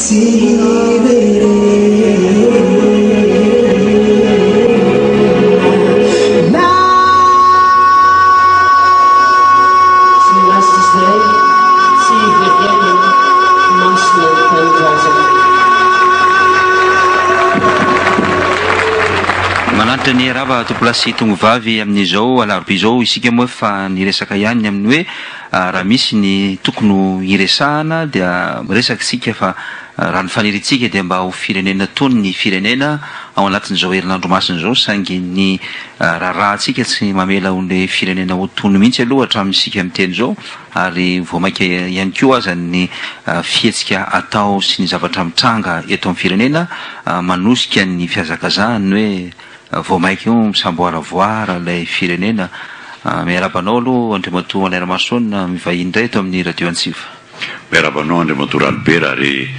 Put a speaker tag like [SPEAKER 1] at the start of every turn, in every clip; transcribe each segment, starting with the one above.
[SPEAKER 1] Manantitra ny rava tonkolasa sy tongovavy amin'izao alarobia izao isika moa efa niresaka ihany ny amin'ny hoe Raha misy ny tokony ho iresahana dia miresaka isika fa raha ny faniriantsika dia mba ho firenena tony ny firenena ao anatin'izao herinandro masina izao saingy ny raharahantsika tsy mamela ilay firenena ho tony mihitsy aloha hatramin'ny isika miteny izao ary vao mainka ihany koa aza ny fihetsika atao sy ny zavatra mitranga eto amin'ny firenena manosika ny fihazakazahany hoe Vao mainka io misamboaravoara ilay firenena. Miarahaba anao aloha Andriamatoa Maniramason mivahiny indray eto amin'ny Radio Antsiva. Miarahaba anao
[SPEAKER 2] Andriamatoa Ralibera ary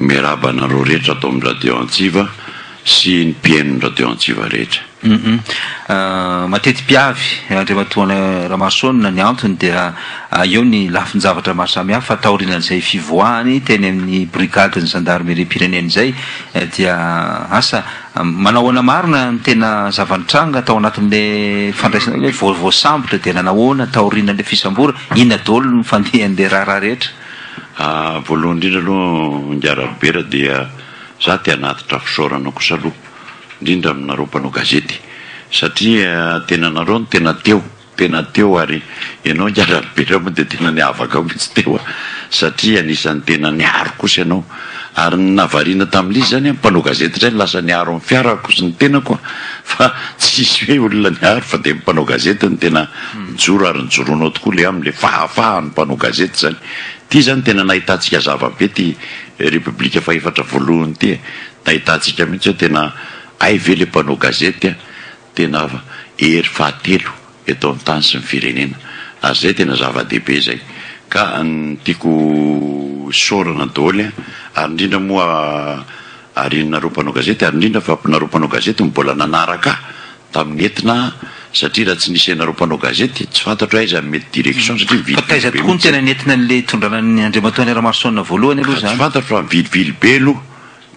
[SPEAKER 2] miarahaba anareo rehetra ato amin'ny Radio Antsiva sy ny mpihainon'ny Radio Antsiva rehetra.
[SPEAKER 1] Mateti-piavy Andriamatoa Ramason ny antony dia eo ny lafin-javatra maro samihafa taorianan'izay fivoahany teny amin'ny Brigadin'ny Zandarimeriam-pirenena izay dia asa Manao ahoana marina ny tena zava-nitranga tao anatin'ilay fandraisana hoe vao voasambotra dia nanao ahoana taorian'ilay fisamborana? Inona daholo ny fandehan'ilay raharaha rehetra? Voalohany
[SPEAKER 2] indrindra aloha Ingahy Rabera dia za te hanatitra fisaorana kosa aloha indrindra aminareo mpanao gazety satria tena nareo no tena teo Tena teo ary ianao ngiahy Rabera moa dia tena niavaka mihitsy teo a! satria anisan'ny tena niaro kosa ianao ary ny nahavariana tamin'ilay izy izany a, mpanao gazety indray no lasa niaro ny fiarako sy ny tenako a! fa tsy hisy hoe olona niaro fa dia ny mpanao gazety no tena nijoro ary nijoroanao tokoa ilay amin'ilay fahafahan'ny mpanao gazety izany, ity izany tena nahitantsika zava-be ity Repoblika fahefatra voalohany ity e! nahitantsika mihitsy hoe tena hay ve ilay mpanao gazety a! Tena hery fahatelo eto amin'ny tany sy ny firenena ary izay tena zava-dehibe izay ka tiako hosaorana daholo an! ary indrindra moa ary nareo mpanao gazety ary indrindra fa nareo mpanao gazety no mbola nanaraka tamin'ny etona satria raha tsy nisy anareo mpanao gazety tsy fantatro aiza no mety direction satria vilivily be mihitsy. Fa taiza tokoa no tena
[SPEAKER 1] nentina an'ilay hitondrana an'i Andriamatoa Henri Lamarson voalohany aloha izany? Tsy fantatro fa vilivily
[SPEAKER 2] be aloha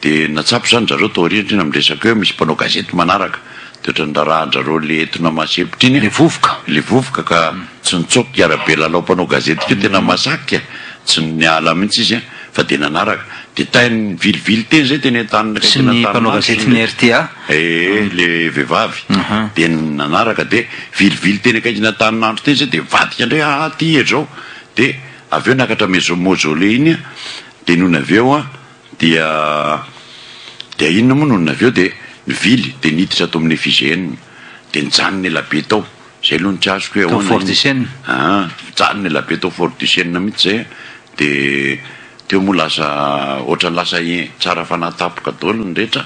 [SPEAKER 2] Dia natsapa izany zareo tao aoriana iny amin'ny resaka hoe misy mpanao gazety manaraka, dia ohatran'ny rarahan-dRareo le etona masepotra iny, le vovoka, le vovoka
[SPEAKER 1] ka tsy nitsoaka
[SPEAKER 2] i Arabe lalao mpanao gazety keo tena massacre, tsy niala mihitsy izy fa dia nanaraka, dia tainy vilivily teny izay teny an-taniny akaiky Sy ny mpanao gazety
[SPEAKER 1] ny rta. Ee le
[SPEAKER 2] vehivavy dia nanaraka dia vilivily teny akaikiny Antaninandro teny izay dia vadika indray aa aty hery izao dia avy eo nakatra maison mausolée iny dia nony avy eo Dia dia inona moa no avy eo dia nivily dia niditra tao amin'ny FIGN dia nijanona ela be tao, izay aloha no tsy azoko hoe ahoana iny. Tao Fort du Chêne? Aa
[SPEAKER 1] nijanona
[SPEAKER 2] ela be tao Fort du Chêne mihitsy izay a, dia teo moa lasa ohatran'ny lasa tsara fanahy tampoka daholo ny rehetra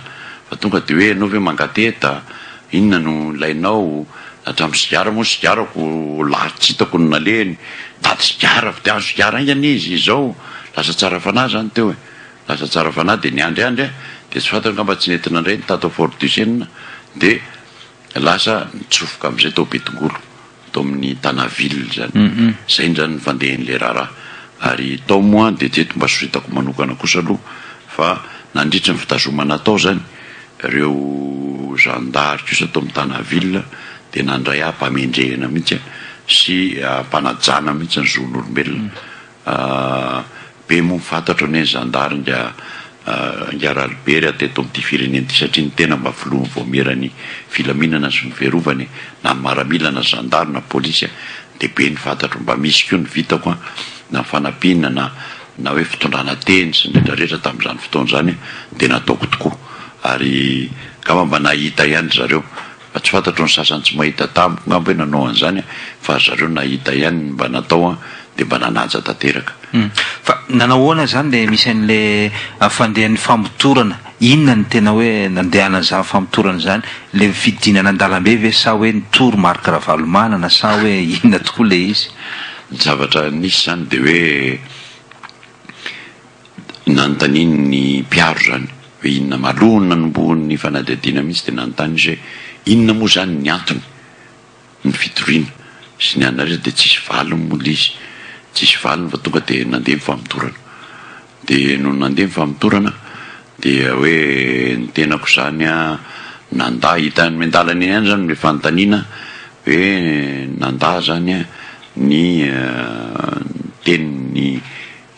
[SPEAKER 2] fa tonga dia hoe ianao ve mangateta, Inona no nilainao? Hatramin'ny sigara moa sigarako lahy tsy hitako no nalehany. Dady sigara avy dia azo sigara haingana izy izao. Lasa tsara fanahy izany teo e! Lasa tsara fanahy dia niandry andry aho dia tsy fantany ngamba tsy nety nandray ny tato Fort Duchesne dia lasa nitsofoka amin'izay tao Betongolo. tao amin'ny Tana ville zany zay ndrany ny fandehan'ilay raharaha ary tao moa dia teto mba soritako manokana kosa aloha fa nandritry ny fitazomana tao zany reo zandary kosa tao amin'ny Tana ville dia nandray ahy mpamendrehina mihitsy sy mpanajana mihitsy ny zon'olombelona Be moa fantatro anie ny zandary nga nga ralibe raha teto amin'ity firenena ity satria ny tena mba filoha vaomieran'ny filaminana sy fiverovana e! na ny maramila na zandary na polisy a! dia be ny fantatro, mba misy koa ny vitako a! na ny fanampiana na na hoe fitondrana teny sy ny rehetra rehetra tamin'izany fotoana izany dia nataoko tokoa ary ngamba mba nahita ihany ry zareo Fa tsy fantatro ny sasany tsy mahita tamiko ngamba hoe nanao an'izany an! Fa ry zareo nahita ihany ny mba natao an! Dia mba nanaja tanteraka. Hum. Fa
[SPEAKER 1] nanao ahoana izany ilay misy an'ilay fandehan'ny famotorana? Inona no tena hoe nandehanan'izany famotorana izany? Ilay fidinana an-dalambe ve sa hoe nitory Marc Ravalomanana sa hoe inona tokoa ilay izy? Ny zavatra
[SPEAKER 2] nisy izany dia hoe Nanontaniany ny mpiaro izany hoe inona ma aloha no nanombohan'ny fanadihadiana mihitsy dia nanontany izy hoe inona moa izany ny antony ny fitoriana sy ny anaresa dia tsisy valiny moa ilay izy tsisy valiny fa tonga dia nandeha ny famotorana dia nony nandeha ny famotorana dia hoe ny tenako izany an nandà hitany miandalana eny ihany izany ilay fanontaniana hoe nandà izany an ny tenin'ny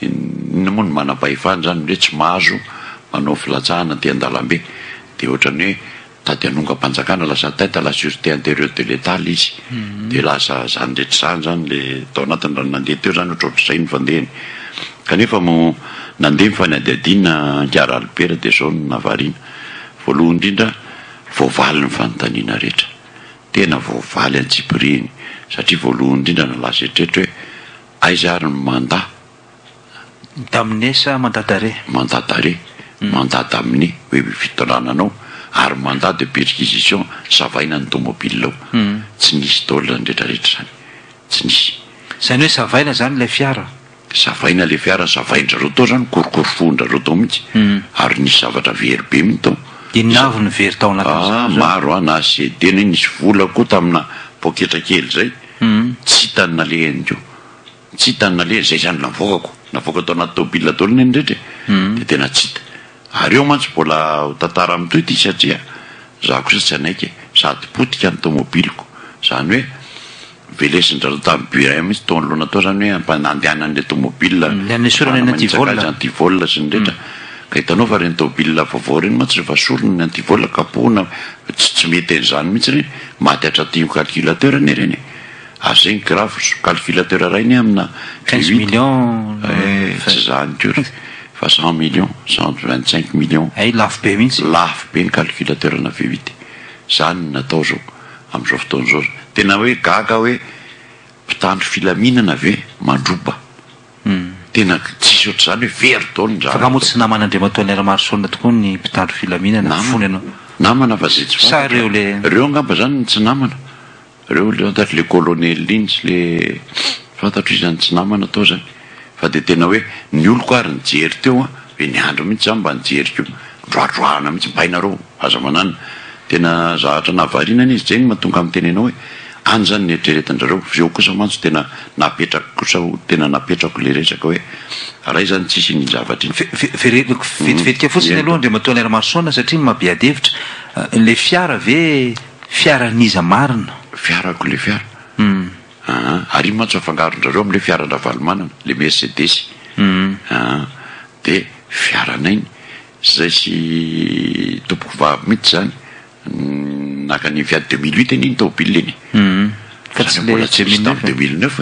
[SPEAKER 2] Inona moa no manam-pahefana izany hoe tsy mahazo manao filatsahana aty an-dalambe? Dia ohatran'ny hoe tady hanongam-panjakana lasa atteinte à la surete interieure de l'Etat ilay izy. Dia lasa izany rehetra izany izany ilay tao anatiny raha nandeha teo izany ohatran'ny izay no fandehany. Kanefa moa nandeha ny fanadihadiana Ankara Albert dia izao no nahavariana. Voalohany indrindra, voavaly ny fanontaniana rehetra. Tena voavaly an-tsipirihiny satria voalohany indrindra nalaza eritreritro hoe, Aiza ary ny manda? D'amener
[SPEAKER 1] sa mandat d'arrêt? Mandat d'arrêt, mandat d'amener hoe fitondrana anao ary mandat de perquisition savaina ny tomobile ao. Tsy nisy daholo izany rehetrarehetra izany. Tsy nisy. Izany hoe savaina izany ilay fiara? Savaina ilay fiara, savain-drizareo tao izany, korokorofohin-drizareo tao mihitsy. Ary nisy zavatra very be mihitsy tao. Inona avy no very tao anatin'izany izany? Maro an, na CD, na nisy vola koa tamina poketra kely izay. Humm tsy hita ny naleha ihany koa. Tsy hita ny naleha, izay izany navoakako, navoaka tao anaty tôbila daholo ny eny rehetra e, dia tena tsy hita. Ary eo mantsy mbola ho tantara mitohy ity satria za kosa tsy hanaiky e, sady potika ny tômôbiliko, izany hoe velesin-dRalao tamin'ny burin mihitsy tao anoloana tao izany hoe hampa- handehanany ilay tômôbila, Ny an'ny esorana ny antivol. manitsakaiza antivol sy ny rehetra, ka hitanao fa ireny tôbila vaovao ireny mantsy rehefa sorona ny antivol kapohina, tsy tsy mety an'izany mihitsy ireny. Maty hatraty io calculateur anie ireny e! Aza zegny grave zo calculateur iray anie amina quinze millions eh tsy zany akory fa cent millions cent vingt cinq millions hay lafo be mihitsy e! Lafo be ny calculateur ana V huit e! Zany no natao zao amizao fotoana zao, tena hoe gaga hoe mpitandro filaminana ve mandroba? Humm tena tsisy ohatr'izany hoe very daholo ny zavatra. Fa nga moa tsy naman Andriamatoa Alain Ramarosaona tokoa ny mpitandro filaminana? Namana, Fony ianao. namana fa zay tsy fantatra. Sa reo le. Reo angamba zany no tsy namana. Reo le fantatro le colonel iny sy le fantatro iza no tsy namana tao zany. Fa de tena hoe ny oloko ary nijery teo an, be niandry mihitsy za mba nijery ko, droadroahana mihitsy, bainareo aza manana Tena zahatra nahavariana anie izy Jenny matonga miteny anao e! any zany nieritreretindrareo fa eo kosa mantsy tena napetrako kosa ho tena napetrako le resaka hoe ray zany tsisy iny zavatra iny Verev vetivetika fotsiny aloha Andriamatoa Allaire Marson satria mabiady hevitra, le fiara ve fiaran'iza marina? Fiarako le fiara aa ary iny mantsy afangarondrareo amle fiaran-dRavalomanana le mercedes aa de fiaranay ny. Zay sy tompoko vavy mihitsy zany naka an'iny fiat deux mille huit anie iny tôbily iny fa tsy le deux mille neuf deux mille neuf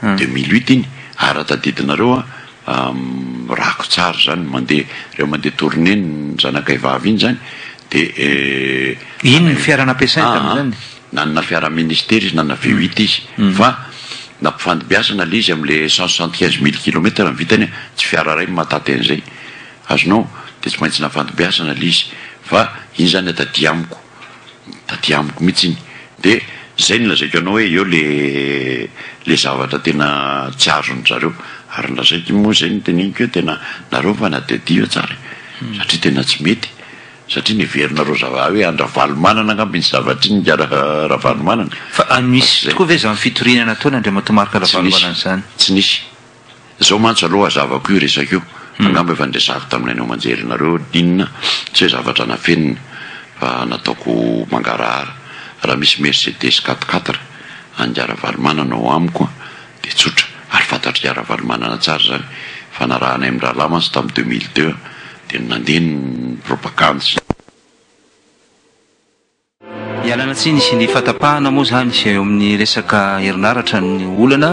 [SPEAKER 1] deux mille huit iny ary raha tadidinareo an rako tsara zany mandeha reo mandeha tourné ny zanakay vavy iny zany de iny ny fiara nampiasainy tamin'izany nanana fiara ministera izy nanana V huit izy fa nampifandimbiasana le izy amle cent soixante quinze mille kilomètre ny vitany an tsy fiara ray no mahataty an'izay. Azonao dia tsy maintsy nafantombiasana ilay izy fa iny izany taty amiko, taty amiko mihitsy iny dia izay no lazaiko anao hoe eo ilay zavatra tena tsy azon-dry zareo ary ny lazaiko iny moa izay no teneniko hoe tena nareo mifanadihadiva tsara e! satria tena tsy mety satria ny heverinareo zava hoe an-dRavalomanana angamba iny zavatra iny nga Ravalomanana, fa misy tokoa ve izany fitoriana nataon' Andriamatoa Marc Ravalomanana izany? Tsy nisy. Zao mantsy alou azavako io resaka io, angamba efa niresahako tamin'ny haino aman-jerinareo inona, tsy hoe zavatra nafeniny fa nataoko mangarahara, raha misy Mercedes quatre quatre an'i Ravalomanana ao amiko dia tsotra, ary fantatr'i Ravalomanana tsara izany, fanarahanay amin'ny rahalahy mantsy tamin'ny deux mille deux dia nandeha ny propagandy sy ny. Ialana tsiny sy ny fahatapahana moa izany izay eo amin'ny resaka herinaratra ny olana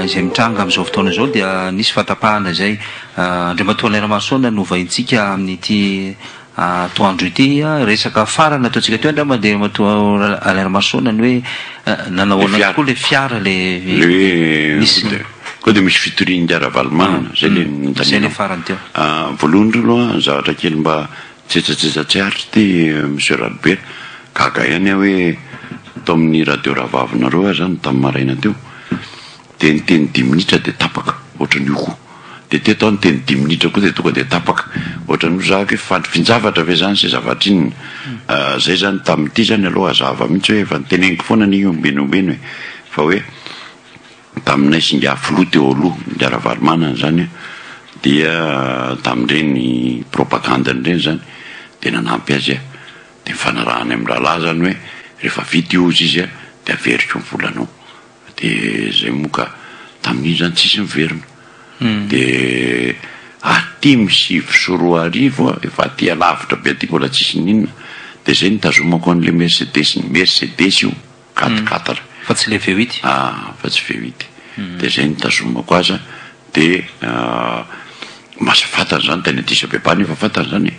[SPEAKER 1] izay mitranga amin'izao fotoana izao dia nisy fahatapahana izay. Andriamatoa Alain Ramarosaona no hovaintsika amin'ity atoandro ity. Resaka farany ataontsika teo angamba dia Andriamatoa Alain Ramarosaona ny hoe nanao ahoana tokoa ilay fiara ilay nisy. Koa dia misy fitorian'i Ravalomanana, izay ilay nitanianao. Izay ilay farany teo. Voalohany indrindra aloha zavatra kely mba Tsetsatsetsa tsy ary ity Monsieur Radobe, gaga ihany aho hoe tao amin'ny radio rahavavinareo aza aho no tamin'ny maraina teo dia niteny dimy minitra dia tapaka ohatran'ny io koa, dia teto aho niteny dimy minitra koa dia tonga dia tapaka ohatran'ny hoe zahako hoe fandry finjavatra ve zany sy zavatra inona ah, zay zany tamin'ity zany aloha hazava mihitsy hoe efa niteneniko foana anie io ombieny ombieny e, fa hoe.
[SPEAKER 2] Taminay singahy filoha teo aloha ndry Ravalomanana zany dia tamin'ireny propagandiny ireny zany dia nanampy azy dia nifanarahany amin'ny rahalahy zany hoe rehefa vita io ozy izy dia averiko ny volanao dia zay moa ka tamin'iny zany tsisy niverina dia aty my sivy sy roa arivo efa aty alavitra be aty mbola tsisy ninona dia zay nitazomako an'ilay mercedes ny mercedes io quatre quatre. Fa tsy le veo
[SPEAKER 1] ity. Ah fa tsy veo
[SPEAKER 2] ity. Dia izay nitazomako azy dia masa fantany izany tany Addis Abeba nefa fantany izany e.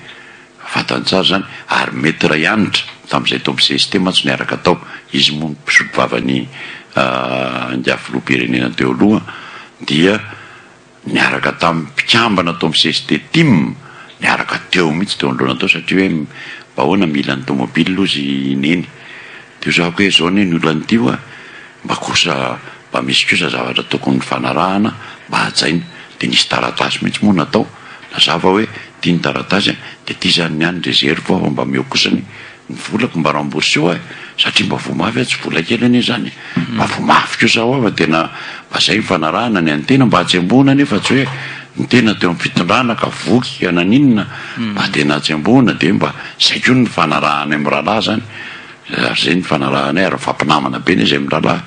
[SPEAKER 2] Fantany tsara izany ary mety ray hanitra tamin'izay tao amin'ny cst mantsy niaraka tao. Izy moa no mpisolo vavan'ny ingahy filoham-pirenena teo aloha dia. niaraka tamin'ny mpikambana tao amin'ny cst tim niaraka teo mihitsy teo anoloana teo satria hoe mba ahoana mila ny tomobile ozy i neny dia hozahako hoe zao anie ny olana ity hoa mba kosa mba misy kosa zavatra tokony fanarahana mba hajaina dia nisy taratasy mihitsy moa natao nazava hoe ity ny taratasy dia ity izany ny any dia zeriko aho mba meo kosa ny Ny volako mba rambourseo ahy satria mba voa mafy aho tsy vola kely anie izany e! Mba voa mafy kosa aho aho fa tena mba izay ny fanarahana ny an'ny tena mba hatsembohina anie fa tsy hoe ny tena teo amin'ny fitondrana ka voky ka naninona mba tena hatsembohina dia mba izay koa ny fanarahanay amin'ny rahalahy izany ary izay ny fanarahanay ary mifampinamana be izahay amin'ny rahalahy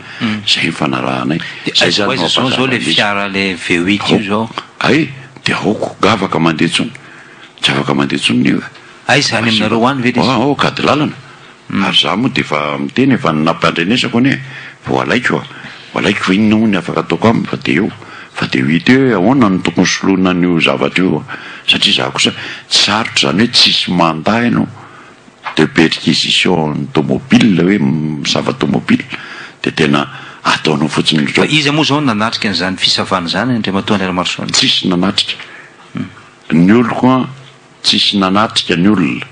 [SPEAKER 2] izay ny fanarahanay izay izany
[SPEAKER 1] no hampahafantarina an'izy hay dia
[SPEAKER 2] aoka gavaka mandeha intsony tsy afaka mandeha intsony ny Aiza any aminareo
[SPEAKER 1] any ve le izy? Aoka ady lalana,
[SPEAKER 2] ary za moa dia efa miteny e, fa ny nampandrenesako anie vao alaiko a, vao alaiko inona moa ny afaka ataoko aminy fa dia eo, fa dia hita eo hoe ahoana no tokony soloina an'io zavatra io a, satria za kosa tsy sarotra izany hoe tsisy mandat ianao de perquisition tomobile hoe misava tomobile dia tena ataonao fotsiny indrindra. Fa iza moa izao no nanatrika
[SPEAKER 1] an'izany fisavana izany Andriamatoa Andrianamarosoa? Tsisy nanatrika,
[SPEAKER 2] ny oloko an Tsisy nanatrika ny olona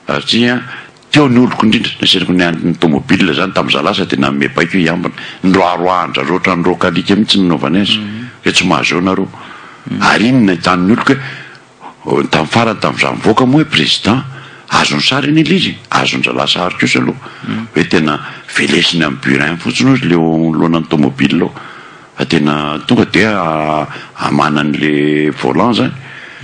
[SPEAKER 2] satria teo ny oloko indrindra, nasainako niandry ny tomobil zany tamin'izaho lasa dia nanome baiko hoe hiambina, niroaroahan-drareo ohatran'ny roaka alika mihitsy ny nanaovany azy hoe tsy mahazo eo nareo, ary iny no nahitan'ny oloko hoe tamin'ny farany tamin'izaho mivoaka moa hoe président azo ny sary anie ilay izy e, azon-dralahy sary kosa aloha hoe tena velesiny amin'ny burin fotsiny hozy ilay eo anoloanan'ny tomobil ao. Fa tena tonga dia hamana an'le volant zany,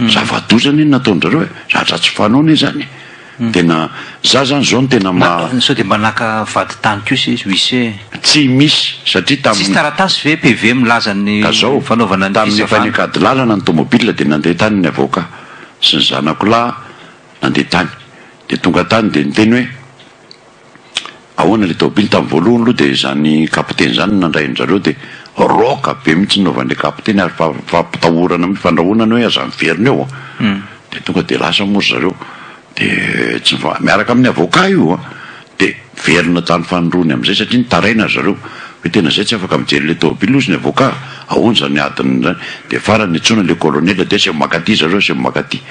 [SPEAKER 2] zava-doza anie ny nataon'zareo e, zatra tsy fanao anie zany e, tena za zany zao no tena maha. Sao dia mba naka
[SPEAKER 1] vady tany kosa izy, huissier e. Tsy misy
[SPEAKER 2] satria tamin'ny. Tsisy taratasy ve
[SPEAKER 1] PV milaza ny fanaovana ny fisavana. Tamin'ny efa nikady lalana
[SPEAKER 2] ny tomobile dia nandeha tany ny avocat sy ny zanako lahy nandeha tany dia tonga tany dia niteny hoe. Ahoana le taobily tam voalohany aloha dia zany kapiteny zany no nandray an zareo dia rock be mitsy nanaovan le kapiteny ary fa fampitahorana mitsy fandrahonana hoe aza miverina eo an dia tonga dia lasa moa ry zareo dia tsy nifa miaraka amin ny avocat io an dia niverina tany fanindroany amizay satria nitaraina ry zareo hoe tena zay tsy afaka mijery le taobily hozy ny avocat ahoana zany adiny zany dia farany niantsoana le colonel dia aseo maka aty zareo aseo maka aty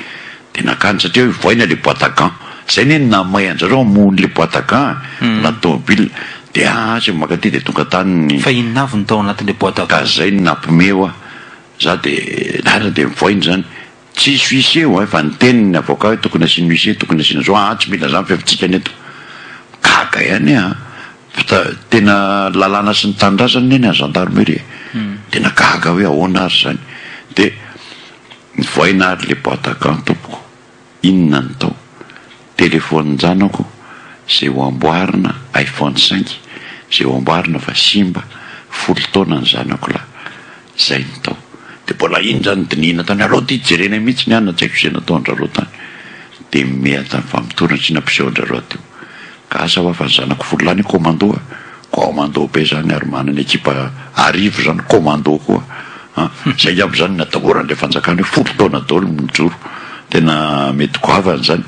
[SPEAKER 2] Dia nakany satria hoe voaina ilay boite à gants. Izay anie no nahamay anjareo hamono ilay boite à gants e! Na ny tomobilina. Dia aa aza maka aty dia tonga tany ny. Fa inona avy no tao anatin'ilay
[SPEAKER 1] boite à gants? Ka izay no nampme
[SPEAKER 2] hoa. Za dia lahatra dia mivoaina izany. Tsy hisy huissier hoa efa niteny ny avocat hoe tokony asiana huissier, tokony asiana izao, aa tsy mila izany fa efa tsy hikany eto. Gaga ihany aa. Fa ta, tena lalàna sy ny tanindrazana anie ny an'ny gendarmerie e. Tena gaga hoe ahoana ary izany. Dia. Mivaina ary le boite à gants tompoko, inona no tao? Telefonin-janako zay ho amboarina iPhone cinq zay ho amboarina fa simba, folo taona ny zanako lahy. Zay no tao. De mbola iny zany dinihina tany alou ty jerena iny mihitsy ny anona tsy haiko ze nataon-dRareo tany. De mihatra ny famotorana sy nampisehoan-dRareo teo. Ka asa hoa fa ny zanako folo lahy ny commando a! Commando be zany ary manana ekipa arivo zany commando koa an! Zay ngamba zany ny atahoran'ilay fanjakana hoe folo taona daolo ny mijoro! Tena mety goavana zany!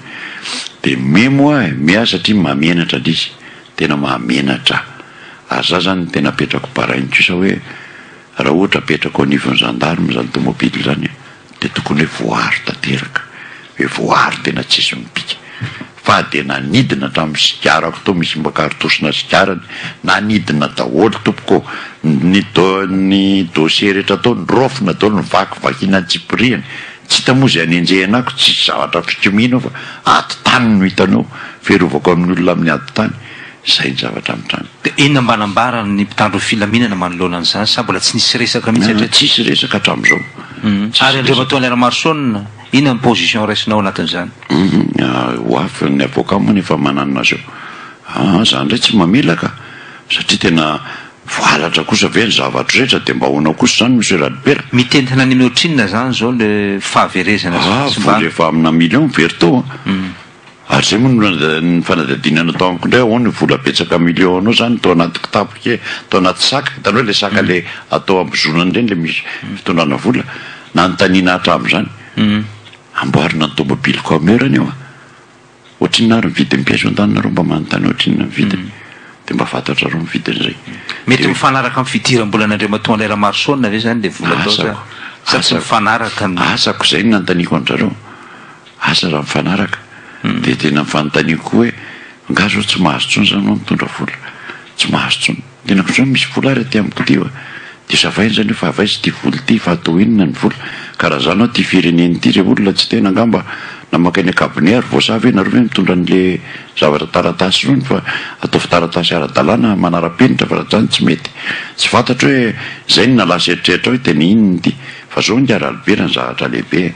[SPEAKER 2] De me moa e! Me aho satria mahamenatra ilay izy! Tena mahamenatra! Ary za zany tena apetrako barain'ny kisoa hoe. Raha ohatra apetrako anivon'ny gendarme izany tomobile izany dia tokony hoe voaaro tanteraka, hoe voaaro tena tsisy mipika. Fa dia nanidina hatramin'ny sigarako tao misy mba karotosinà sigarany, nanidina daholo tompoko ô! Ny do, ny dossier rehetra tao noraofina daholo, nivaky vakiana an-tsipirihany. Tsy hita moa izay anenjehina ako, tsisy zavatra fikomiana ao fa ady tany no hitanao, fiarovako amin'ny olona amin'ny ady tany. Izay ny zavatra hatrany. Dia inona mba nambaran
[SPEAKER 1] ny mpitandro ny filaminana manoloana an'izany? Sa mbola tsy nisy resaka mihitsy hatreto? Tsisy resaka hatramizao.
[SPEAKER 2] Ary
[SPEAKER 1] Andriamatoa Allaire Marson, inona ny position raisinao anatin'izany? Ho
[SPEAKER 2] avy ny avocat moa ny efa mananina azy eo. Aa za ndray tsy mamela ka! Satria tena voalatra kosa ve ny zavatra rehetra dia mba ahoana kosa izany Monsieur Radibera? Mitentina any amin'ny ohatrinona
[SPEAKER 1] izany izao le fahaverezana sy tsy mba. Aa vola efa amina
[SPEAKER 2] million very teo a! Ary izay moa no ny fanadihadiana nataoko indray ahoana io vola betsaka millions anao izany tao anaty kitapo kely tao anaty saka hitanao ilay saka ilay atao ambozonana ireny ilay misy fitondrana vola nanontaniana hatramin'izany amboarina ny tomobily comeur anie hoa ohatrinona ary ny vidin'ny pièce ao an-tananareo mba manontany ohatrinona ny vidiny dia mba fantatrareo ny vidin'izay mety mifanaraka
[SPEAKER 1] amin'ny fidiram-bola an'Andriamatoa André Ramarosaona ve izany ilay vola atao sa tsy mifanaraka ny asako izay no
[SPEAKER 2] nanontaniako an-dry zareo Asa raha mifanaraka. Dia tena fanontaniako koa hoe angaha izao tsy mahazo intsony izany ianao mitondra vola? Tsy mahazo intsony. Tena koa izao misy vola ary aty amiko aty fa dia savaina izany hoe fa avy aiza ity vola ity fa atao inona ny vola? Ka raha izany aho ity firenena ity ilay olona tsy tena angamba namaka eny an-kabone ary voasaha ve nareo ve mitondra an'ilay zavatra taratasy irony fa ataovy taratasy ara-dalàna manara-penitra fa raha tsy izany tsy mety. Tsy fantatro hoe izay no nalasa eritreritra ahy hoe tena inona ity fa izao angaha raha libera ny zavatra lehibe e.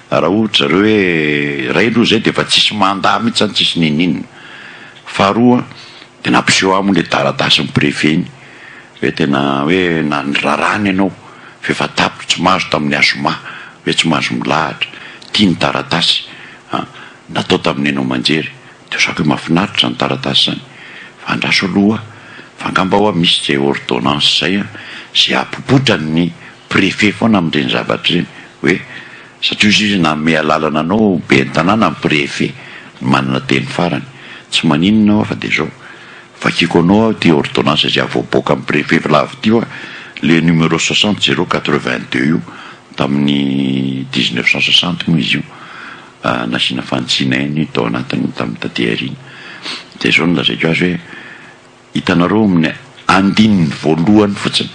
[SPEAKER 2] Raha ohatra zareo hoe iray aloha izay dia efa tsisy mandat mihitsy izany tsisy niniana. Faharoa dia nampiseho ahy moa ilay taratasin'ny préfet iny hoe tena hoe na ny raràny ianao f'efa tapitra tsy mahazo tamin'ny azoma hoe tsy mahazo milahatra. Ity ny taratasy an! natao tamin'ny haino aman-jery. Dia zaka hoe mahafinaritra izany taratasy izany fa andraso aloha fa angamba ho'a misy izay ordonnance izay an! izay hahapopotra ny préfet foana amin'ireny zavatra ireny hoe satria hoy izy nanome alalana anao ho ben'ny tanàna ny préfet no manana teny farany tsy maninona aho fa dia izao vakiko anao aho ity ordonnance izay havoaboaka amin'ny préfet vilavo ity hoa ilay numéro soixante zéro quatre vingt deux io tamin'ny dix neuf cent soixante moa izy io nasiana fanitsiana eny tao anatiny tamin'ny taty aoriana dia izao no lazaiko azy hoe Hitanareo amin'ny andininy voalohany fotsiny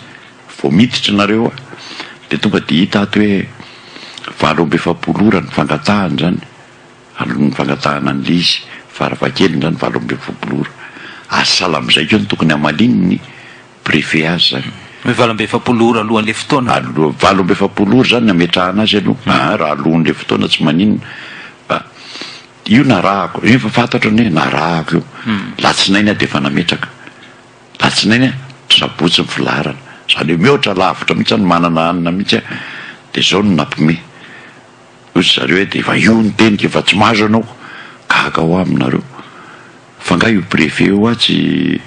[SPEAKER 2] vao miditra nareo dia tonga dia hita ato hoe valo amby efapolo ora ny fangatahana izany alohan'ny fangatahana an'ilay izy faravakely izany valo amby efapolo ora ary sahala amin'izay koa no tokony hamaliany ny préfet azy izany Hoe valo amby efapolo
[SPEAKER 1] ora alohan'ilay fotoana? Aloha, valo amby efapolo
[SPEAKER 2] ora izany no ametrahana azy aloha, ah, raha alohan'ilay fotoana tsy maninona fa Io narahako, efa fantatro ny hoe narahako io, latsinainy aho dia efa nametraka, latsinainy aho, sabotsy ny filaharana, izany hoe mihoatra lavitra mihintsy aho no manana hanina mihintsy aho, dia izao no nampime, hoy ry zareo hoe dia efa io ny teniko, efa tsy mahazo anao, gaga ho aho aminareo. Fa nga io brevet io hoa tsy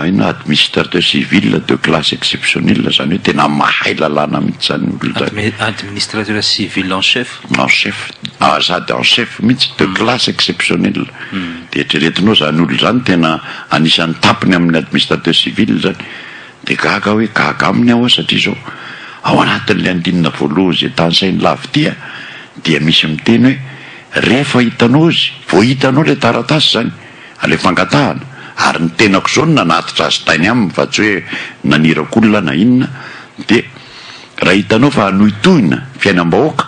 [SPEAKER 2] inona administrateur civil de classe exceptionnelle zany hoe tena mahay lalàna mihitsy zany io olona zany. Administrateur
[SPEAKER 1] civil en chef. En chef sady
[SPEAKER 2] en chef mihitsy de classe exceptionnelle de eritreretinao zany olona zany tena anisan'ny tapiny amin'ny administrateur civil zany de gaga aho hoe gaga aminy aho hoa satria zao ao anatin'ilay andinina voalohany zay tanisain'i Lavitia dia misy miteny hoe Rehefa hitanao izy, vao hitanao ilay taratasy izany, ilay fangatahana, ary ny tenako izao no nanatitra azy tany aminy fa tsy hoe naniraka olona na inona, dia raha hitanao fa hanohitohina ny fiainam-bahoaka,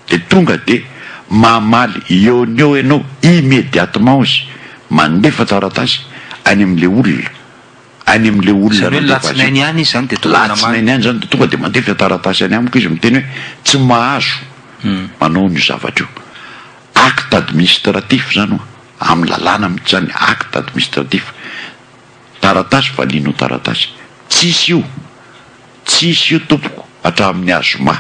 [SPEAKER 2] dia tonga dia mamaly eo no eo ianao immédiatement izy, mandefa taratasy any amin'ilay olona. any amin'ilay olona Izany hoe ny nandefa azy latsinainy io. ihany izy izany
[SPEAKER 1] dia tonga dia namaly. Latsinainy ihany izany dia tonga
[SPEAKER 2] dia mandefa taratasy any amiko izy miteny hoe tsy mahazo manao an'io zavatra io. Acte administratif izany hoa, amin'ny lalàna mihitsy izany, acte administratif. Taratasy valianao taratasy. Tsisy io. Tsisy io tompoko hatramin'ny ah zoma.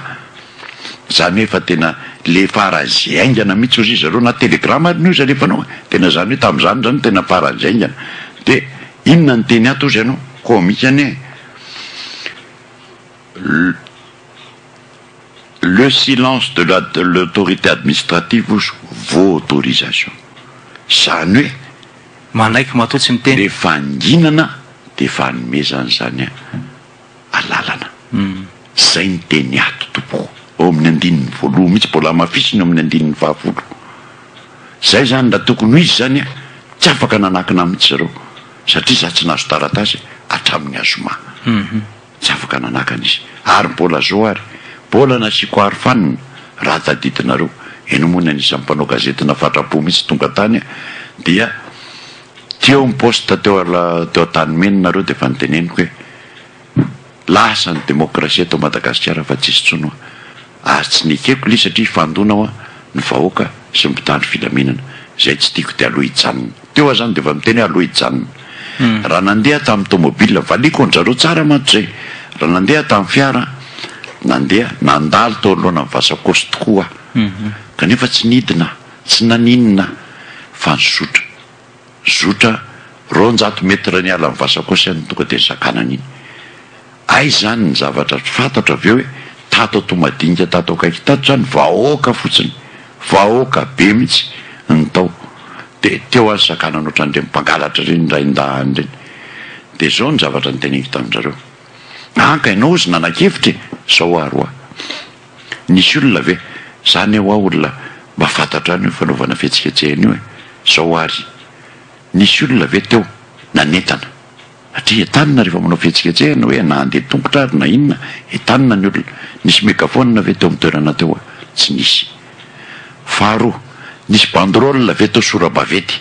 [SPEAKER 2] Zany hoe fa tena le faran'zy haingana mitsy ozy zareo na telegram ary ny ozy alefanao e! tena zany hoe tamzany zany tena faran'zy haingana de inona ny teny ato ozy ianao comique anie le le silence de la de l'autorité administrative ozy vao autorisation zany hoe Manaiky matoa
[SPEAKER 1] tsy miteny. Le vanginana
[SPEAKER 2] de fanomezana izany alalana. Zay ny teny ato tompoko. Ao amin'ny andininy voaloha mihitsy mbola hamafisina eo amin'ny andininy fahafolo. Zay zany raha tokony ho izy zany tsy afaka nanakina mihitsy zareo satria za tsy nahazo taratasy hatramin'ny zoma. Tsy afaka nanakana izy. Ary mbola zo ary. Mbola nasiako aro fanina. Raha tadidinareo. Ianao moa ny anisan'ny mpanao gazety nafatrapo mihitsy tonga tany dia teo ny poste teo teo Antanimena nareo dia efa noteneniko hoe lasa ny demokrasia eto Madagasikara fa tsisy intsony hoa. Ary tsy nekeko le satria hifandona hoa ny vahoaka sy ny mpitandro filaminana. Izay tsy tiako dia aloha hijanona. Teo aho zany dia efa miteny hoe aloha hijanona. Raha nandeha tamin'ny tomobile, valiako an-dry zareo tsara mantsy izay. Raha nandeha tamin'ny fiara, nandeha, nandalo teo anoloanan'ny Vasakosy tokoa aho. Kanefa tsy nidina aho, tsy naninona aho, fa nizotra. zotra roanjato mettre niala ny Vasakosa iny tonga dia nisakanana iny. Hay izany ny zavatra tsy fantatro avy eo hoe tato Toamadinika tato akaiky tato izany vahoaka fotsiny, vahoaka be mihitsy ny tao. Dia teo aho nisakanana ohatran'ireny mpangalatra ireny rain-dahany ireny. Dia izao ny zavatra noteneniko tamin-dry zareo, Anka ianao hozy nanakevitra e! Izao ary hoa. Nisy olona ve? Zany eo hoa olona mba fantatra any io fanaovana fihetsiketsehana io e! Zao ary nisy olona ve teo nanentana? Satria entanina rehefa manao fihetsiketsehana hoe na handeha tongotra ary na inona entanina ny olona. Nisy megaphone ve teo amin'ny toerana teo? Tsy nisy. Faharoa, nisy banderole ve teo sora-baventy?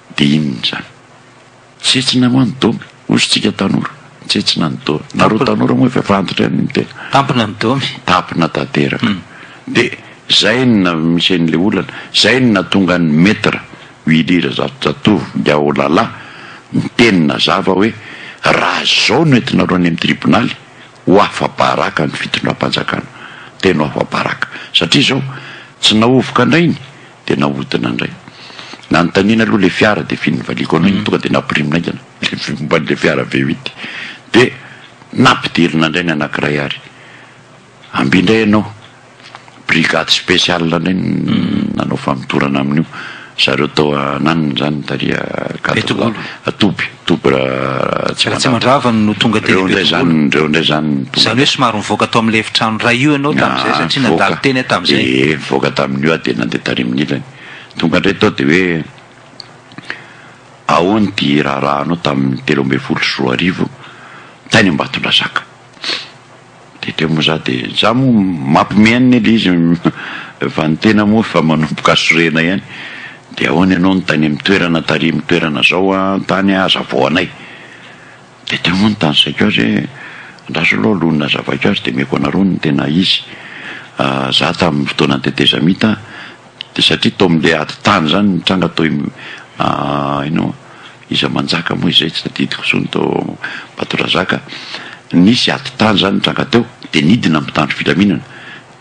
[SPEAKER 2] Dia inona izany? Tsetsina moa ny domy? Hoy isika tanora, tsetsina ny domy. Nareo tanora moa efa fantatra ihany ny tena. Tampina ny domy.
[SPEAKER 1] Tampina
[SPEAKER 2] tanteraka. Dia izay no namisy an'ilay olana, izay no nahatonga an'i Maître Willy Razafijatovy Ndiaolala niteny nazava hoe, raha izao no entinareo any amin'ny tribonaly, ho afa-baraka ny fitondram-panjakana. Tena ho afa-baraka. Satria izao, tsy nahovoka indray ny. Dia nahodina indray. Nanontaniana aloha ilay fiara dia f'iny nivaliako anao iny tonga dia nampirimina haingana ilay vy momba an'ilay fiara V8. Dia nampidirina indray ny anankiray ary amby indray ianao. Brigade spéciale indray no nanao famotorana amin'io. Zareo tao ananona izany, tariha Gadra Toby. Double
[SPEAKER 1] Ratsimandrava no tonga teny Betongola. Reo
[SPEAKER 2] ndray zany no tonga. Zany hoe somary
[SPEAKER 1] nivoaka tao amin'ilay efitrano iray io ianao tamin'izay satria nandalo teny aho tamin'izay. Ehe nivoaka tamin'io aho dia
[SPEAKER 2] nandeha tarimin'ny ilany. Tonga indray tao dia hoe ahoana ity raharahanao tamin'ny telo ambin'ny folo sy roa arivo tany Ambatondrazaka. De teo moa za de za moa mampme an'i Nelly izy fa ny tena moa efa manomboka sorena ihany de ahoana ianao no tany amin'ny toerana tarihin'ny toerana zao an tany an azavao anay de teo moa no tanisaiko azy hoe andraso aloha no nazavaiko azy de omeko anareo ny tena izy za tamin'ny fotoanan'ny tetezamita de satria tao amin'le ady tany zany nitranga toy inona moa. Iza manjaka moa izay tsy tadidiko intsony tao Ambatondrazaka, nisy ady tany izany nitranga teo dia nidina ny mpitandro filaminana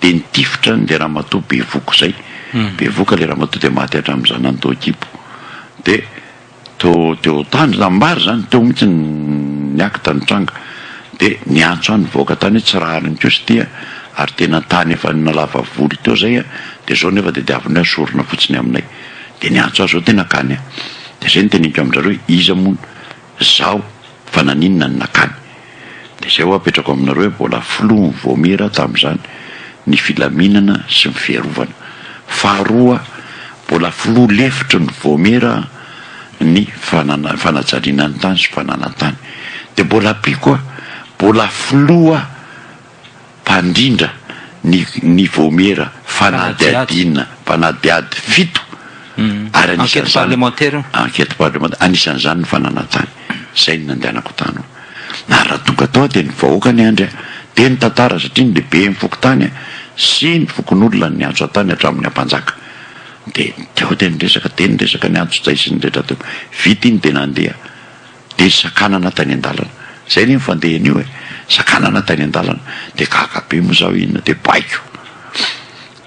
[SPEAKER 2] dia nitifitra an'ilay ramatoa bevoka izay, bevoka ilay ramatoa dia maty hatramin'ny zanany tao an-kibo dia teo teo tany izany, maro izany, teo mihintsy ny acte nitranga dia niantso ahy ny vahoaka tany hoe tsy rariny koa izy ity ary tena tany efa nalava voly teo izay dia izao nefa tadiaviny hoe asorina fotsiny aminay. Dia niantso ahy zao tena kany a! Dia zay noteneniko amin-drareo hoe iza moa no zaho fa naninona no nakany? Dia zay hoa apetrako aminareo hoe mbola filohan'ny Vaomiera tamin'izany ny filaminana sy ny fiarovana. Faharoa, mbola filoha lefitry ny Vaomiera ny fanana- fanajariana ny tany sy fananantany. Dia mbola ampiako hoe mbola filoha. mpandrindra ny ny vaomiera fanadihadiana mpanadihady fito ary anisan'izany
[SPEAKER 1] enquête parlementaire
[SPEAKER 2] anisan'izany ny fananantany izay no nandehanako tany hoe na raha tonga tao dia ny vahoaka niandry ahy dia nitantara satria ny lehiben'ny fokontany sy ny fokonolona no niantso ahy tany hatramin'ny ampanjaka dia teo dia niresaka dia niresaka niantso-tsay sy ny rehetra teo vita iny dia nandeha Dia ry Sakanana tany an-dalana, izay anie ny fandehany io e, Sakanana tany an-dalana, dia gaga be moa izaho inona dia baiko.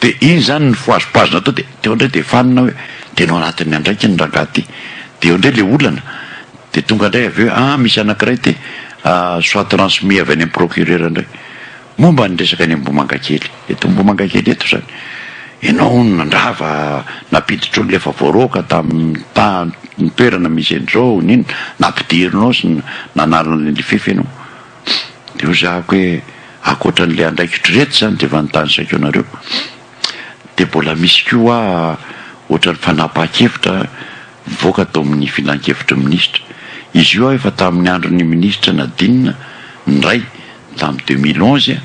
[SPEAKER 2] Dia iny izany nifohazopazona tao dia teo indray dia fanina hoe tena ao anatin'ny andraikiny ny rangahy ity. Dia eo indray ilay olana, dia tonga indray avy eo hoe an misy anankiray ity soit transmis avy any amin'ny procureur indray. Momba ny resaka any Ambohimangakely, eto Ambohimangakely eto izany, ianao hono nandrava nampiditra olona efa voaroaka tamin'ny tany toerana misy an'izao n'inona, nampidirinao sy nanala an'ilay Lifef ianao. Dia hozahako hoe ankoatra an'ilay andraikitr'ireto izany dia efa nitanisaiko anareo. Dia mbola misy koa ohatran'ny fanapahan-kevitra nivoaka tao amin'ny filankevitry ny minisitra. Izy io efa tamin'ny andron'ny minisitra Nadine indray tamin'ny deux mille onze,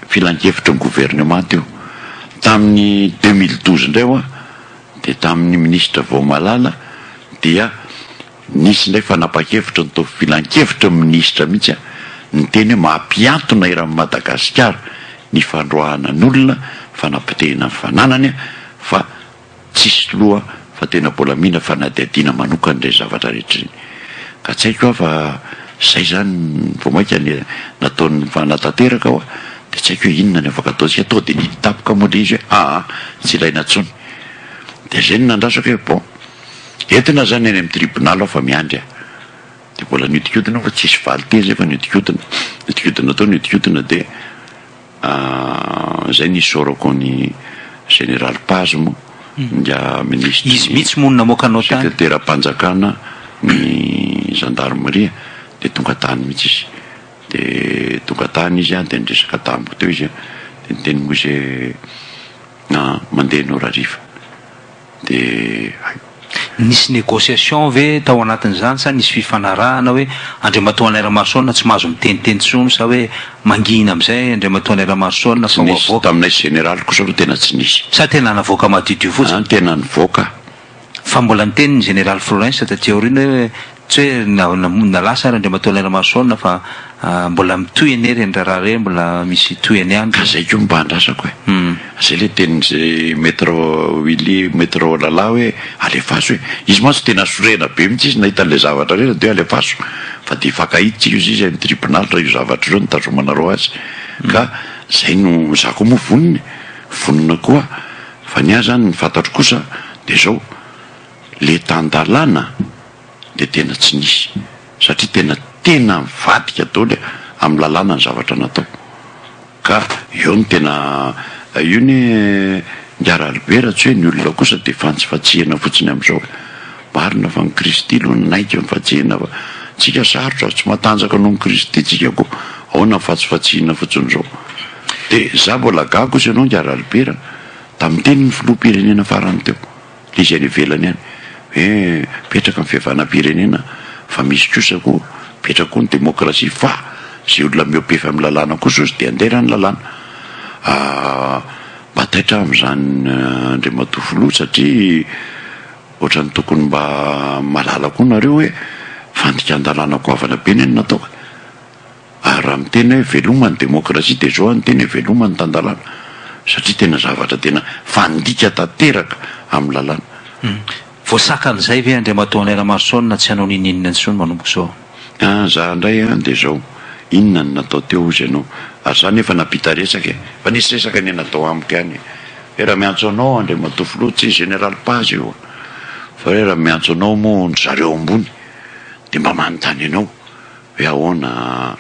[SPEAKER 2] filankevitry ny governemanta io. Tamin'ny deux mille douze indray ho'a dia tamin'ny minisitra Vaomalala dia. Nisy indray fanapa-kevitra nitovy filankevitry ny minisitra mihitsy niteny hoe mampihantona eran'i Madagasikara ny fandroahana ny olona, fanapotehina ny fananany fa tsisy loha fa tena mbola mila fanadihadiana manokana ireny zavatra rehetra ireny. Ka tsy haiko aho fa izay izany vao mainka nataony fanatanteraka wa dia tsy haiko hoe inona ny afaka ataontsika. Tonga dia niditapoka moa ilay izy hoe aa tsy ilaina intsony. Dia izay no nandrasako hoe bon. Entina zany any amin'ny tribunal aho fa miandry a! Dia mbola niodikodina aho fa tsisy valin-teny fa niodikodina, niodikodina tao niodikodina dia zay nisaorako an'i Général Paz moa, ingahy Ministra, Izy mihitsy moa no namoaka
[SPEAKER 1] anao tany. Sekreteram-panjakana
[SPEAKER 2] ny Gendarmerie dia tonga tany mihitsy izy, dia tonga tany izy dia niresaka tamiko teo izy dia niteny moa izy hoe, mandeha ianao rahariva. dia
[SPEAKER 1] Nisy négociation ve tao anatin'izany sa nisy fifanarahana hoe Andriamatoa Alain Ramarosaona tsy mahazo miteniteny intsony sa hoe mangina amin'izay Andriamatoa Alain Ramarosaona fa ho avoaka? Tsy nisy, taminay général
[SPEAKER 2] kosa aloha tena tsy nisy. Sa tena navoaka
[SPEAKER 1] madiodio fotsiny? An, tena nivoaka.
[SPEAKER 2] Fa mbola
[SPEAKER 1] niteny ny général Flourens taty aoriana hoe. Tsy hoe na na na lasa ary Andriamatoa Lainamasoana fa mbola mitohy anie ireny raharaha ireny, mbola misy tohiny ihany. Ka izay koa mba andrasako
[SPEAKER 2] e! Izay ilay tenin'izay Maître Willy, Maître Olala hoe alefaso e! Izy mantsy tena sorena be mihitsy izy nahita an'ilay zavatra ireny dia hoe alefaso fa dia hifankahitsika izy izy any tribonaly raha io zavatra io no nitazomanareo azy. Ka izay no, izaho koa moa vonona e! Vonona koa fa ny ahy izany ny fantatro kosa dia izao, le tan-dalàna dia tena tsy nisy satria tena tena nivadika daholo amin'ny lalàna ny zavatra natao ka eo no tena io anie miharary be raha tsy hoe ny olona kosa dia fantsifantsihina fotsiny amin'izao e! marina fa ny Kristy aloha nanaiky ny fantsihina fa tsika sarotra tsy matanjaka noho ny Kristy tsika koa ahoana ny fantsifantsihina fotsiny izao dia za mbola gaga kosa ianao Ngiararibe raha tamin'ny tenin'ny filoham-pirenena farany teo Le izay any ivelany any hoe mipetraka ny fihavanam-pirenena fa misy kosa koa mipetraka koa ny demokrasia fa izay olona miope-fy amin'ny lalàna kosa ozy dia handeha raha ny lalàna. Mba taitra amin'izany Andriamatoa Filoha satria ohatran'ny tokony mba mahalala koa nareo hoe fandikan-dalàna goavana be ne no natao e. Ary raha miteny hoe veloma ny demokrasia dia izao aho niteny hoe veloma ny tan-dalàna satria tena zavatra tena fandika tanteraka amin'ny lalàna.
[SPEAKER 1] Voasakan'izay ve Andriamatoa Henri Lamarson na tsy hanao n'inon'inona intsony manomboka izao? An, za indray an, dia
[SPEAKER 2] izao, inona no natao teo hozy ianao? Ary za nefa nampita resaka e! Fa nisy resaka anie natao amiko ihany e! Hoe raha miantso anao Andriamatoa Filoha, tsy Général Paz io an! Fa hoe raha miantso anao moa ny zareo ambony dia mba manontany anao. Hoe ahoana,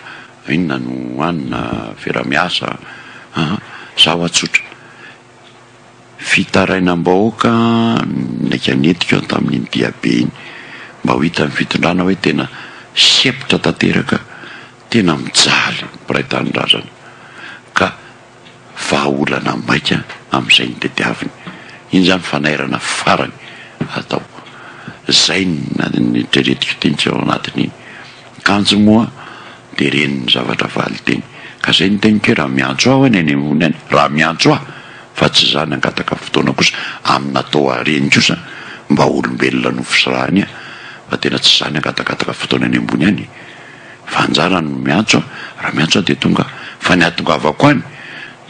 [SPEAKER 2] inona no hanina, vera miasa an! Zaho hoa tsotra. Fitarainam-bahoaka ny naika nentiko tamin'iny diabe iny mba ho hitan'ny fitondrana hoe tena sempotra tanteraka, tena mijaly ny mpiray tanindrazana ka vahaolana maika amin'izay no tadiaviny. Iny izany fanairana farany atao. Izay ny treretiko teny tsy ao anatiny iny. Kanjo moa dia ren'ny zavatra valinteny. Ka izay no teniko hoe raha miantso ahy hono eny ambony any, raha miantso ahy fa tsy izany hangataka fotoana kosa amin'ny natao ahy reny kosa mba olombelona nofisirahany ahy fa tena tsy izany hangatakataka fotoana eny ambony any e. Fa anjara no miantso a! Raha miantso aho dia tonga fa ny ahatongavako any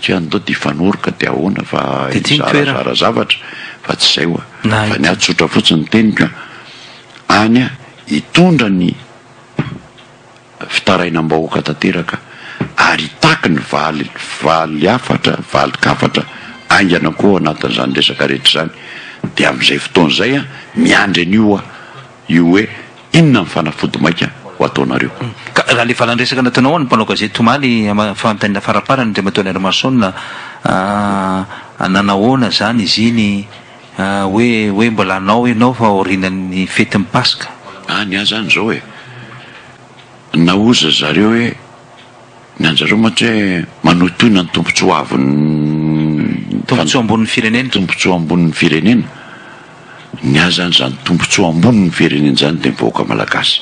[SPEAKER 2] tsy an'dao dia hifanoroka dia ahoana fa hizarazara zavatra fa tsy izay hoa! Fa ny ahy tsotra fotsiny ny teniko a! Any a! Hitondra ny fitarainam-bahoaka tanteraka ary hitaky ny valy valy hafatra valin-kafatra haingana koa ao anatin'izany resaka rehetra izany dia amin'izay fotoana izay a! Miandry an'io hoa! io hoe inona ny fanafody maika ho ataonareo. Ka raha le valan-dresaka
[SPEAKER 1] nataonao an'ny mpanao gazety omaly fanontaniana faraparany Andriamatoa Henry Mason a nanahoana zany izy iny hoe hoe mbola hanao ianao fa aorianan'ny fetin'ny paska. Any aho zany zao
[SPEAKER 2] e, nahoza zareo hoe. Ny anjareo mantsy hoe manohitohina ny tombontsoa avon'ny. Tombontsoa ambonin'ny
[SPEAKER 1] firenena. Tombontsoa ambonin'ny
[SPEAKER 2] firenena. Ny ahy izany izany tombontsoa ambonin'ny firenena izany dia ny vahoaka malagasy.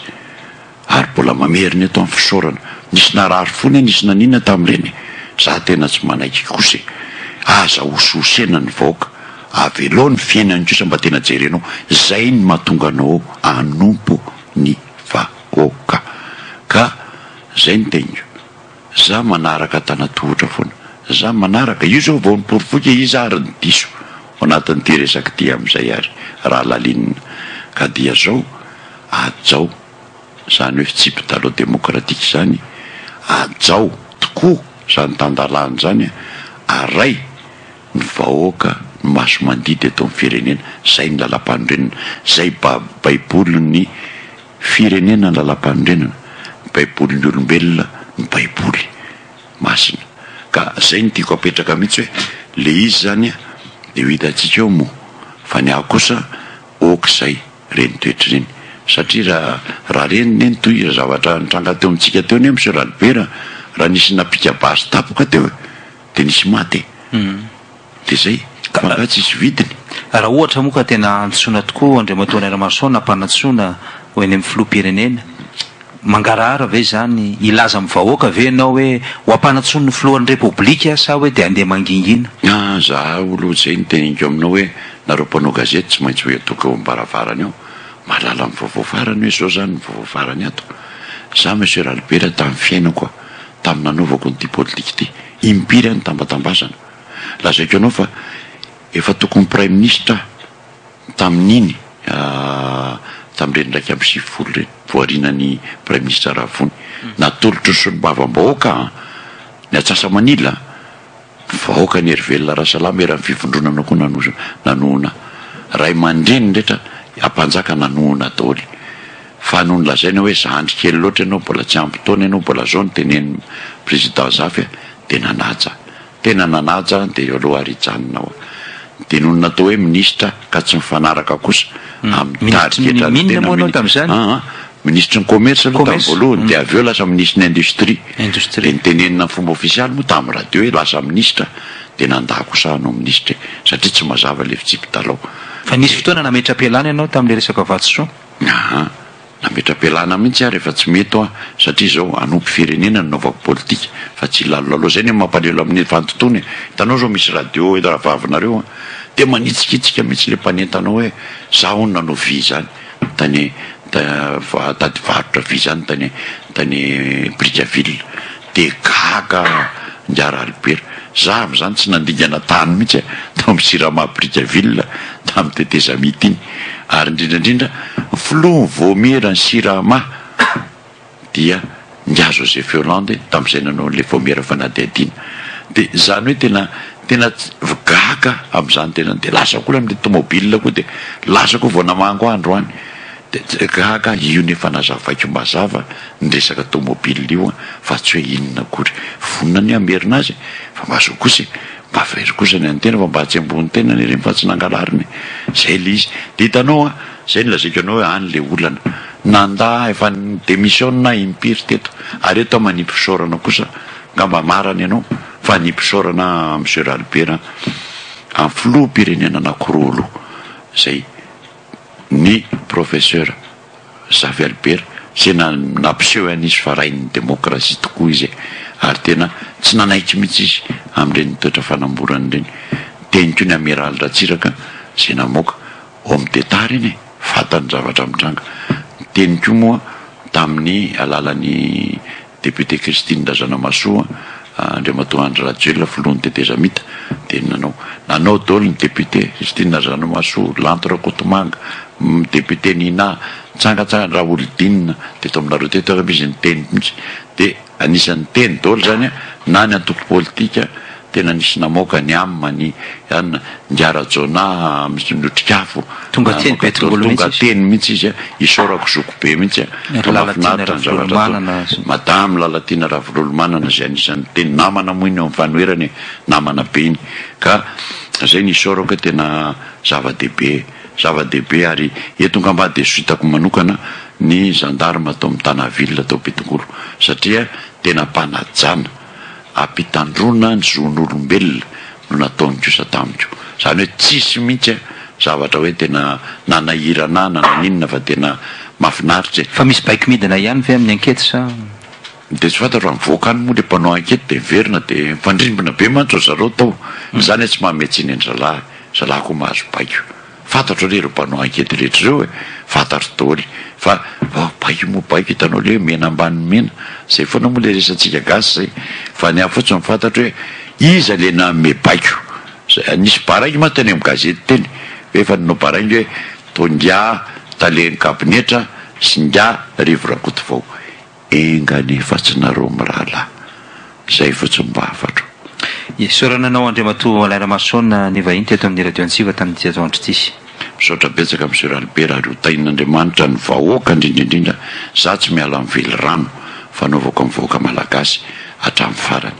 [SPEAKER 2] Ary mbola mamerina eto amin'ny fisaorana. Nisy narary fo ne nisy nanina tamin'ireny e. Izaho tena tsy manaiky kosa e. Aza hosihosena ny vahoaka. Avelao ny fiainany kosa mba tena jerenao. Izay no mahatonga anao hanompo ny vahoaka. Ka. Zay ny teniko. Za manaraka antanatohotra foana. Za manaraka. Io zao vao niporofoy ke iza ary ny diso ao anatin'ity resaka ity amin'izay ary raha lalinina. Ka dia zao, ajao zany hoe fitsipitalo demokratika zany, ajao tokoa zany tandalana zany a, aray ny vahoaka ny maso mandidy eto amin'ny firenena. Zay ny lalam-panorenana. Zay baibolin'ny. Firenena ny lalam-panorenana, ny baibolin'ny olombelona ny baiboly masina. Ka zay no tiako apetraka mihitsy hoe le izy zany de ho hitantsika eo moa fa ny ahy kosa ok zay reny toetra ireny satria raha raha reny ne ny tohira zavatra nitranga teo amintsika teo ne monsieur Ralibera raha nisy napika basy tapoka teo e de nisy maty e. Dia izay, camarade tsisy vidiny. Raha ohatra moa ka
[SPEAKER 1] tena hantsoina tokoa Andriamatoa Rainamarosoa nampanantsoina ho eny amin'ny Filoham-pirenena, mangarahara ve izany? Hilaza amin'ny vahoaka ve ianao hoe ho ampanantsoin'ny Filohan'ny Repoblika sa hoe dia handeha mangingina? An, za aloha
[SPEAKER 2] izay no teneniko aminao hoe nareo mpanao gazety tsy maintsy hoe atoka eo am-baravarana eo, mahalala ny vaovao farany hoe izao izany ny vaovao farany ato. Za Monsieur Ralibera tamin'ny fiainako aho, tamin'ny nanaovako an'ity politika ity, impiry aho nitambatambazana, Lazaiko anao fa efa tokony praiminisitra aho tamin'iny tamin'ireny iraika amby sivifolo ireny, voarinan'i praiminisitra Ravony. Natolotry ny solombavambahoaka ny Antsasa-manila, ny vahoakan'i Herivelona Rasalama eran'ny fivondronana koa nanohana ahy. Ray aman-dreniny rehetra ampanjaka nanohana daholo. Fa nony lazaina hoe zandry kely loatra ianao, mbola tsy ampy taona ianao, mbola zao no tenenin'ny Président Zafy, Dia nanaja. Tena nanaja dia eo aloha ary hijanona ao. Nodinony natao hoe minisitra ka tsy mifanaraka kosa amin'ny tarigetra ny tena minisitra. Aa minisitry ny commerce aloha tamin'ny voalohany dia avy eo lasa minisitry ny industrie. Dia notenenina amin'ny fomba ofisialy moa tamin'ny radio hoe lasa minisitra dia nanda kosa hanao minisitra e. Satria tsy mazava ilay fitsipi-dalao. Fa nisy fotoana
[SPEAKER 1] nametra-pialana ianao tamin'ilay resaka vato soa? Aa. Nametra-pialana
[SPEAKER 2] mihitsy aho rehefa tsy mety hoa satria izao hanompo firenena no naovako politika fa tsy hilalolalo. Zay no mampalelo amin'ny fandotoana e! Hitanao zao misy radio eto rahavavinareo an! Dia manitsikitsika mihitsy ilay mpanentana hoe za hono nanao vy izany tany tany varotra vy izany tany tany Brickaville. De gaga Njara Albert. Za avy zany tsy nandingana tany mihitsy a, tao am Jirama Brickaville tam tetezamita iny. Ary indrindra indrindra ny filoha ny vaomiera ny Jirama dia Ngiahy Joseph Yolande tamzay nanao anle vaomiera fanadihadiana. De zany hoe tena tena gaga amzany tena. De lasa ko amle tomobile ko de lasa ko vao namango andro any. Gaga io nefa nazavaiko mazava ny resaka tomobile io fa tsy hoe inona akory. Vonona anie hamerina azy e! Fa mba zao kosa e! Mba very kosa ny antena fa mba atsemboho ny tenany ireny fa tsy nangalariny e! Zay le izy. De hitanao an! Zay no lazaiko anao hoe any le olana. Nanda efa ni-demissionne aho impiry teto ary eto aho manipy fisaorana kosa. Angamba marana ianao fa hanipy fisaorana Monsieur Ralibera an! Amin'ny filoham-pirenena anakiroa aloha. Zay. ny Professeur Xavierber izay nampiseho ihany izy fa rain'ny demokrasia tokoa izy e! ary tena tsy nanaiky mihitsy izy amin'ireny toetra fanamborana ireny, teny koa ny Amiraly Ratsiraka izay namoaka Homme d'Etat ireny e! fantany ny zavatra mitranga, niteny koa moa tamin'ny alalan'ny. Député Christine Razanamahasoa, Andriamatoa Andry Rajoelina filohan'ny tetezamita dia nanao nanao daholo ny député, Christine Razanamahasoa, Lanto Rakotomanga, député Nina, nitsangantsangana Raholdine teto aminareo teto angamba izy niteny mihitsy dia anisan'ny niteny daholo izany na ny antoko politika, Tena nisy namoaka ny Amma ny an ndry Rajaonah mihitsy notrikafo Tonga teny be tongolo mihitsy izy. Tonga teny mihitsy izy an, isaorako zoky be mihitsy an, fa mahafinaritra ny zavatra ataony. Madame Lalatiana Ravololomanana izay anisany niteny, namana moa iny eo amin'ny fanoherana e, namana be iny, ka izay no isaorako hoe tena zava-dehibe, zava-dehibe ary eto ngamba dia suite-ko manokana ny gendarme ato amin'ny Tanaville ato Betongolo satria tena mpanajana. ampitandroana ny zon'olombelona no nataony kosa tamiko. Izany hoe tsisy mihitsy a zavatra hoe tena nanahirana ahy na naninona fa tena mafinaritra e. Fa misy baiko midina
[SPEAKER 1] ihany ve amin'ny ankety sa? Dia tsy
[SPEAKER 2] fantatro any voaka any moa ilay mpanao ankety dia miverina dia mifandrimbona be mantsy ry zareo tao. Izany hoe tsy manome tsiny an-dry zalahy, zalahy koa mahazo baiko. Fantatro anie ireo mpanao ankety rehetra ireo e, fantatro daholo fa vao baiko moa baiko hitanao le hoe mena ambany mena, zay foana moa le resatsika gasy zay fa ny ahy fotsiny fantatro hoe iza le nanome baiko, nisy baraingo mantsy teny amin'ny gazety teny hoe efa nanao baraingo hoe tonga tale ny kabinetra sy ngah Rivo Rakotovao. Enga anie fa tsy nareo mirahalahy. Zay fotsiny mba hafatro. Isaorana anao
[SPEAKER 1] Andriamatoa Alain Ramason nivahiny teto amin'ny Radio Antsiva tamin'ity ato andro ity. Misaotra betsaka
[SPEAKER 2] Monsieur Albert ary ho tahin'Andriamanitra ny vahoaka indrindra indrindra za tsy miala amin'ny velirano fanaovako amin'ny vahoaka malagasy hatramin'ny farany.